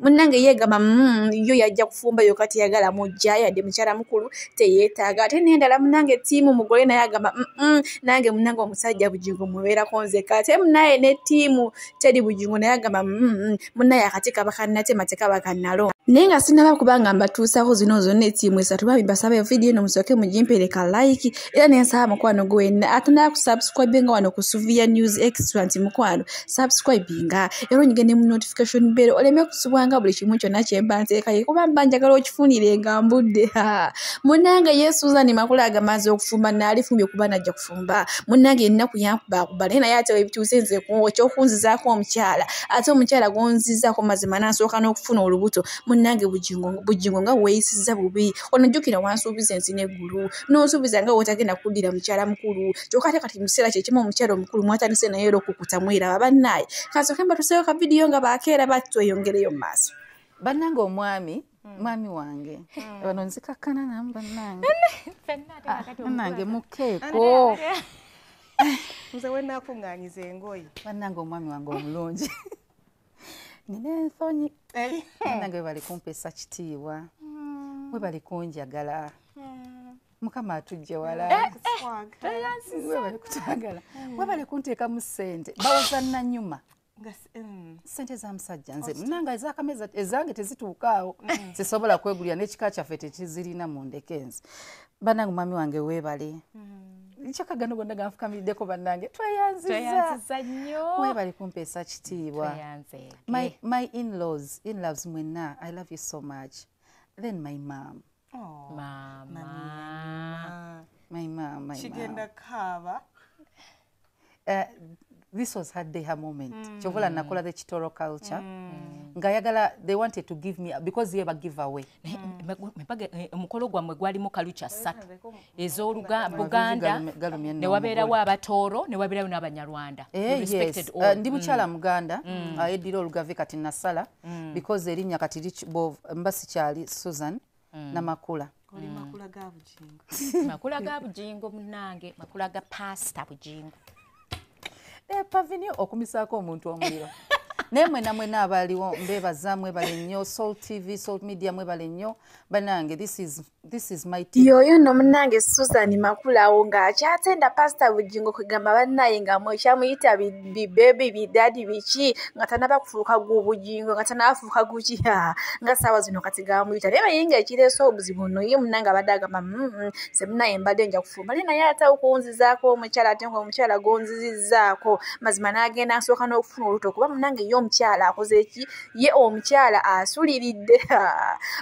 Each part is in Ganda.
munnange yeegamba mm, yo yajja kufumba yoka teyagala mujja yadde mukyala mukulu teyeetaaga ate nendala munnange tiimu mugole naye agamba nange munnange omusajja bujingo mubeerako nzeka ate munaye ne tiimu teri bujingo naye agamba mm, munaye akati kaba kannatema tekaba kannalo naye nga sinaba kubanga mbatuusaho zino zonna etiimu esatu bambi basaba evidiyo eno musooke mugimpereka like era nensaba mukwano gwenna atanaa ku subscribe nga wano ku suviya news extra nti mukwano subscribe nga era onyige ne mu notification bero oleme kusubwanga buli kimu kyonna kyemba nteekaye kuba mba njagala okifunire nga mbudde munange ye suzan makula agamaze okufumba naalifumbye kuba najja kufumba munange ennaku yankubakuba naye naye ate webituuse nze kyokunzizaako omukyala ate omukyala gonzizaako mazima nansooka n'okufuna olubuto munange bujingo nga weeyisiza bubi onojjukira wansuubiza ensi neggulu n'osuubiza nga wotagenda kuddira mukyala mukulu kyokka ate kati mukiseera kyekimu omukyala omukulu mwatandise naye era okukuta mweraba bannaaye kansooke mbatuseewo ka vidiyo nga baakeera bati tweyongereyo mu maaso bannange omwami Mm. mwami wange mm. bano nzikakkana namu bannange bannange ah, mukeeko nze wenakunganyiza engoyi bannange omwami wange omulungi nina ensonyi nange webali kumpesa kitiibwa hmm. webali kunjagala hmm. mukama atujje walaewebali kutwagala webali kunteekamu sente bawoza nanyuma Mm. sente zamusajja nze munanga ezakameza ezange tezituukaawo mm. sisobola kwegulira nekika kyaffe tekizirina mu ndeke nze banange mwami wange webale mm-hmm. kyokka gano gonna ganfukamirideko banange tweyanziza nyo webale kumpeesa kitiibwa my, my inlaws inloves mwenna i love you so much then my mam oh, mama. mama. my mam my kigenda kaaba uh, this was her day her moment mm. kyovola nakola the kitoro culture mm. nga yagala they wanted to give me because ye bagive away mepage mm. eh, omukolo gwamwe gwalimu kalucha satu ez'oluganda ne wabeerawo abatooro ne wabeerawo n'abanyarwanda eh, yes. uh, ndi mm. mukyala mm. muganda mm. uh, edira olugave kati nasala mm. because erinnya kati mba sikyali susan mm. na makula oli mm. makula ga bujingo makula ga bujingo munange makula ga pasta bujingo e eh, pavini okumisako omuntu omuliro naye mwena mwena abaliwo mbebaza mwebale nnyo salt tv salt media mwebale nnyo banange this is, this is my t yoyo no munange susan makulawo ng'akyatenda pasita bujingo kwegamba bannaye nga mwekyamuyita bibebi bidadi biki nga tanaba kufuuka gwobujingo nga tanafuuka guki nga saawa zino kati gamuyita naye naye nga ekireesa obuzibu no ye munange abadde agamba mm, mm, semunaye mbadde nja kufumba naye naye ate okunzizaako omukyala ate nga omukyala gonzizizaako mazima n'agenda nsooka n'okufuna oluto kuba munange ye omukyala akoze eki ye omukyala asuliridde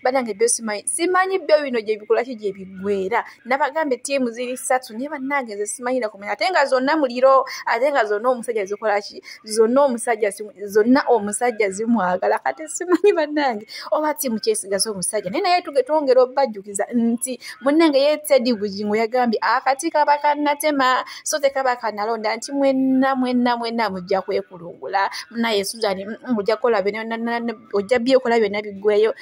banange byo simanyi simanyi byo bino gyebikolaki gyebiggwera nabagamba ettiimu ziri ssatu naye bannange nze simanyi nakumanya ate nga zonna muliro ate nga zonna omusajja zikola ki zonna omusajja zonna omusajja zimwagala kati simanyi bannange oba tiimu kyesigaza omusajja naye naye tuge twongera obajjukiza nti munnange ye tedi bujingo yagambye akati kaba kanatema so tekaba kanalonda nti mwenna mwenna mwenna mujja kwekulungula munaye suzani mm, mm, ojja kukola byonna ojja byekola byonna biggweyo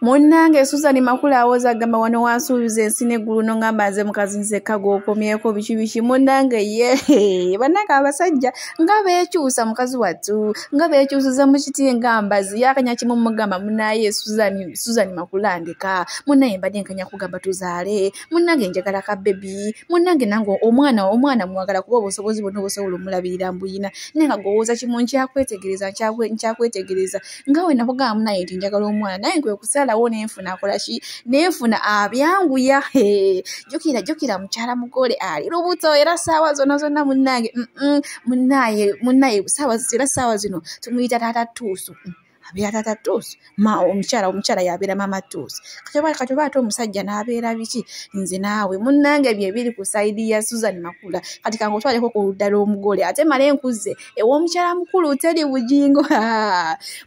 munnange susan makula awoza agamba wano wansuubiza ensi neggulu nongamba nze mukazi nzekka gwokomyeko biki biki munnange ye bannange abasajja nga beekyusa mukazi wattu nga beekyusiza mu kiti nga mbazi yakanya kimu mugamba munaye susan makula ndeka munaye mbadde nkanya kugamba tuzaale munnange njagala ka bebi munnange nange omwana omwana mwagala kuba obusobozi bonna obusobola omulabirira mbuyina naye nga gwowoza kimu nkyakwetegereza nkyakwetegereza nga we nakugamba munaye nti njagala omwana naye nkwe kusalawo nenfuna akolaki nenfuna abyanguya jukira jukira mukyala mugole ali lubuto era saawa zona zonna munange munaye munaye saawa era saawa zino tumuyita taata tuusu mm. abeera tata tuusi omukyala omukyala yabeera mama tuusi kati oba ate omusajja n'abeera biki nze naawe munnange byebiri ku saidi ya susan makula kati kangotwaleko ku ludda lw'omugole ate male nkuzze ew'omukyala mukulu teri bujingo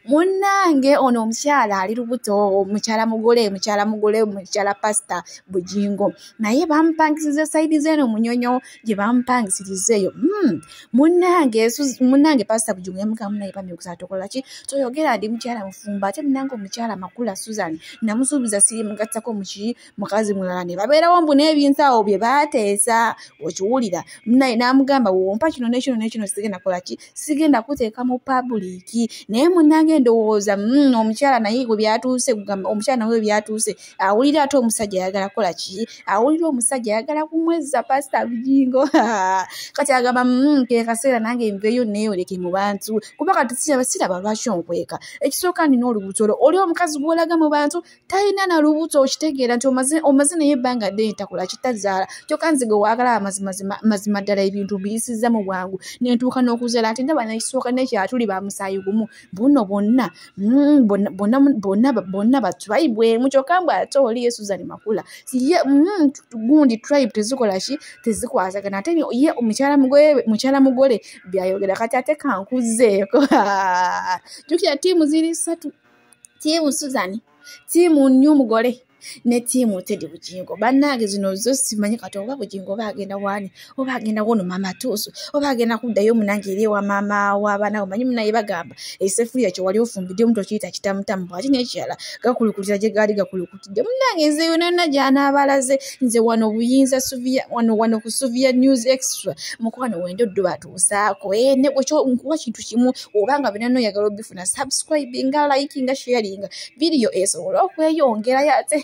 munnange ono omukyala ali lubuto omukyala mugole mukyala mugole mukyala pasita bujingo naye bamupangisiriza saidi zeeno munyonyo gye bamupangisiriza eyo hmm. munnange munnange pasita bujingo yamugamu naye bamyukusa tokola ki toyogera ndi mukyala mufumba ate munnange omukyala makula susan namusuubiza sirimugattako muki mukazi mulala ne babeerawo mbu n'ebintu awo bye baateesa okiwulira naye n'amugamba wompa kino nekino nekino sigenda kola ki sigenda kuteeka mu pabuliki naye munange ndowooza mm, omukyala naye we byatuuse kugamba omukyala nawe we byatuuse awulira ate omusajja ayagala kola ki awulira omusajja ayagala kumwezza pasita bujingo kati agamba mm, ke kaseera nange nveeyo neeyoleke mu bantu kuba kati siraba lwaki onkweka ekisooka nina olubuto lwo oli omukazi gw'olaga mu bantu talina na lubuto okitegeera nti omaze omaze naye ebbanga ddene takola kitazaala kyokka nze gwe waagala amazima ddala ebintu biyisiza mu bwangu nentuuka n'okuzaala ate ndaba nekisooka nekyatuli ba musaayi gumu buno bonna mm, bonna batribe emu kyokka mbu ate oli yesuzani makula ye mm, gundi tribe tezikola ki tezikwasagana ate ye mukyala mugole byayogera kati ate kankuzeeko jukira tiimu ziri satu tiimu suzani tiimu nny omugole ne tiimu tedi bugingo bannange zino zo simanyi kati oba bugingo oba agenda waani oba agenda wono maama tuusu oba agenda kuddayo munange eri ewa maama wabaana omanyi munaye bagamba esefuliya kye wali ofumbidde omuntu okiyita kitamutamu bwati nekirala gakulukulira gye gaali gakulukutidde munnange nze yona yonna gyanaabalaze nze wano buyinza suviya wano wano ku suviya news extra mukwano wenda oddubaatu musaako eh, nkuwa kintu kimu obanga byonna noyagala obifuna subscribinga likinga sharinga vidiyo esobole okweyongerayo ate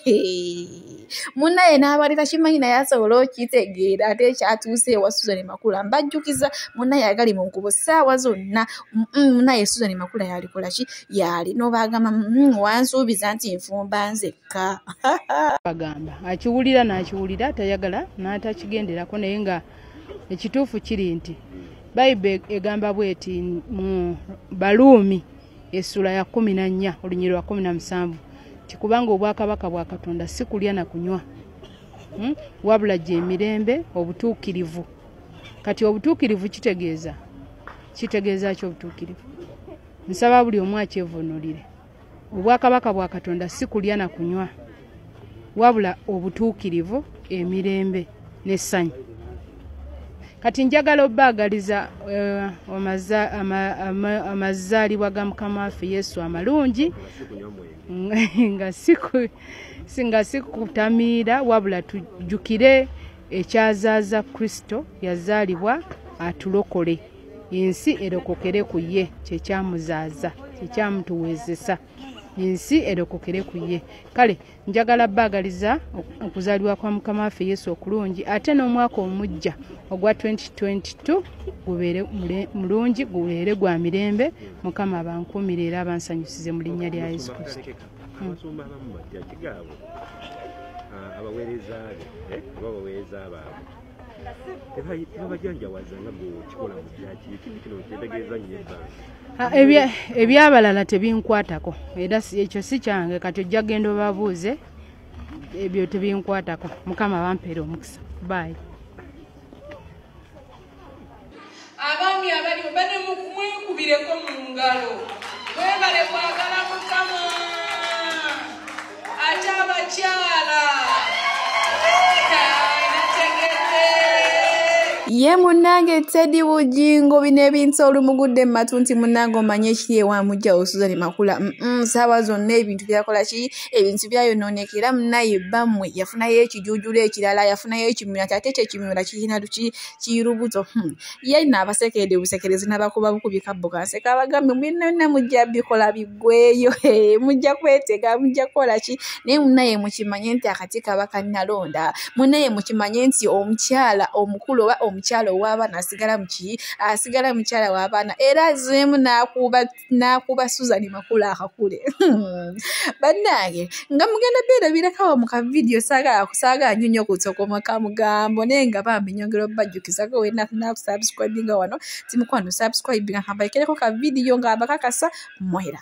munaye n'abali takimanyi naye asobola okitegeera ate ekyatuuse ewa susan makula mbajjukiza munaye agali mu nkubo saawa zonna munaye susan makula yalikola ki yaali nobaagamba mm, wansuubiza nti nfumba nzekka bagamba akiwulira n'akiwulira tayagala n'atakigenderako naye nga ekituufu kiri nti bayibe egamba bweti mu baluumi esula ya kumi na nnya olunyiri lwa kumi na musanvu ti kubanga obwakabaka bwa katonda si kulya na kunywa hmm? wabula gye emirembe obutuukirivu kati obutuukirivu kitegeeza kitegeeza ki obutuukirivu nsaba buli omu akyevunulire obwakabaka bwa katonda si kulya na kunywa wabula obutuukirivu emirembe n'essanyu kati njagala obaagaliza eh, amazaalibwa ga mukama waffe yesu amalungi nga sikutamiira wabula tujjukire ekyazaaza kristo yazaalibwa atulokole ensi erokokere ku ye kyekyamuzaaza kyekyamutuweezesa ensi erokokere ku ye kale njagala baagaliza okuzaalibwa kwa mukama waffe yesu okulungi ate n'omwaka omujja ogwa 2022 gubeere mulungi gubeere gwa mirembe mukama abankuumire era abansanyusize mu linnya lya yesu kristo hmm. ah, abaweereza be eh, oba abaweereza baabwe ebyabalala tebinkwatako era ekyo si kyange kati ojja genda obabuuze ebyo tebinkwatako mukama bampeera omukisa baayi abaami abaliwo bane mukumwekubireko mu ngalo webale kwagala mukama ate abakyala ye munange tedi bugingo bino ebintu olumugudde mu matu nti munange omanye ekiri ewamujjawo susan makula saaba zonna ebintu byakola ki ebintu byayonooneka era munaye bammwe yafunayo ekijuujula ekirala yafunayo ekimyula kyate ekyo ekimyula kirina luki kirubuto hmm. ye nno abasekeede busekerezi nabakuba bukubi kabbo kanseka abagambye binonna mujja bikola biggweeyo mujja kwetega mujja kukola ki naye munaye mukimanye nti akati kaba kanalonda munaye mukimanye nti omukyala omukulu oba omukyala ow'abaana asigala muki asigala mukyala w'abaana era azeemu n'akuba n'akuba suzan makula akakule bannange nga mugenda beerabirakawo mu kavidiyo saagala nyo nyo kutsokoma ka mugambo naye nga bambi nyongera obubajjukizako wenakusabusikwibinga wano timukwano sabusikwibinga kambaekereko kavidiyo nga abakakasa mwera